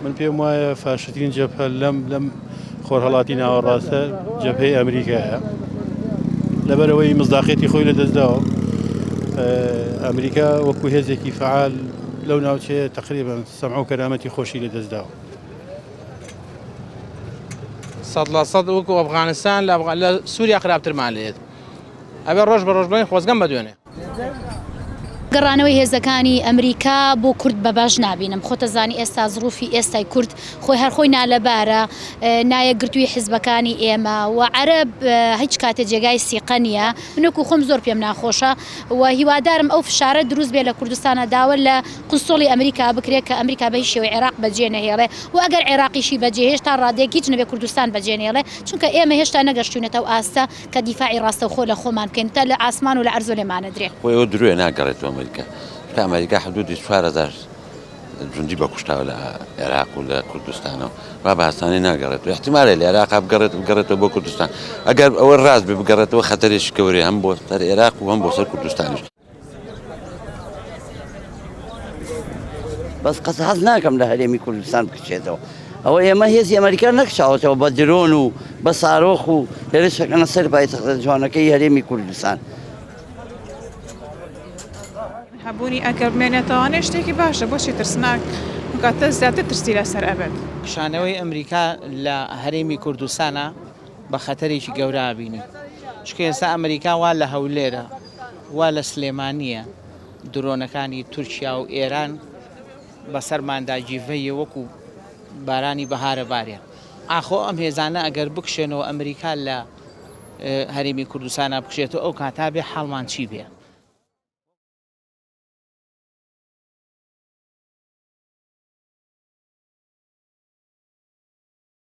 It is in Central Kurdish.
من پێم وایە فاشترین جەپە لەم لەم خۆرهڵاتی ناوەڕاستە جەپەی ئەمریکایە لەبەرەوەی مزداقێتی خۆی لە دەستداوە ئەمریکا وەکو هێزێکی فعال لەو ناوچەیە تقریبا سەمع و کەرامەتی خۆشی لە دەستداوە سەد لە سەد وەکو ئەفغانستان لە سووریا خراپترمان لێت ئەبێ ڕۆژ بە ڕۆژبین خۆزگەم بەدوێنێ گەڕانەوەی هێزەکانی ئەمریکا بۆ کورد بە باش نابینم خۆتەزانی ئێستا زڕوفی ئێستای کورد خۆی هەرخۆی نالەبارە نایەکگرتووی حزبەکانی ئێمە و عەرەب هیچ کاتێ جێگای سیقە نییە منۆکو خۆم زۆر پێم ناخۆشە و هیوادارم ئەو فشارە دروست بێ لە کوردستانە داوە لە قسوڵی ئەمریکا بکرێ کە ئەمریکا بە هیچ شێوەی عێراق بە جێ نەهێڵێ و ئەگەر عێراقیشی بە جێهێشت تا ڕادەیەک هیچ نەبێ کوردستان بە جێ نێڵێ چونکە ئێمە هێشتا نەگەشتوینەتە ئەو ئاستە کە دیفاعی ڕاستەوخۆ لە خۆمان بکەین و تا لە ئاسمان و لە عەرزۆ لێمان نەدرێ. خۆ ئێوە درۆیە ناگەڕێتەوە ئەمەریکا، چونکە ئەمەریکا حدوودی چوار هەزار جوندی بە کوشتاوە لە عێراق و لە کوردستانەوە، وا بە ئاسانی ناگەڕێتەوە، ئیحتیمالە لە عێراقا بگەڕێت بگەڕێتەوە بۆ کوردستان، ئەگەر ئەوە ڕاست بێ بگەڕێتەوە خەتەرێکی گەورەیە هەم بۆ سەر عێراق و هەم بۆ سەر کوردستانیش. بەس قەس حەز ناکەم لە هەرێمی کوردستان بکچێتەوە ئەوە ئێمە هێزی ئەمریکا نەکچاوەتەوە بە درۆن و بە سارۆخ و هێرشەکەنە سەر پایتەختە جوانەکەی هەرێمی کوردستان هەبوونی ئەگەر بمێنێتەوانێ شتێکی باشە بۆچی ترسناک کاتە زیاتر ترسی لەسەر ئەبێت کشانەوەی ئەمریکا لە هەرێمی کوردستانە بە خەتەرێکی گەورە بینی چکە ئێستا ئەمریکا وا لە هەولێرە وا لە سلێمانییە درۆنەکانی تورکیا و ئێران بەسەرماندا جیڤەیە وەکو بارانی بەهارە بارێ ئاخۆ ئەم هێزانە ئەگەر بکشێنەوە ئەمریکا لە هەرێمی کوردستانا بکشێتەوە ئەو کاتا بێ حاڵمان چی بێ.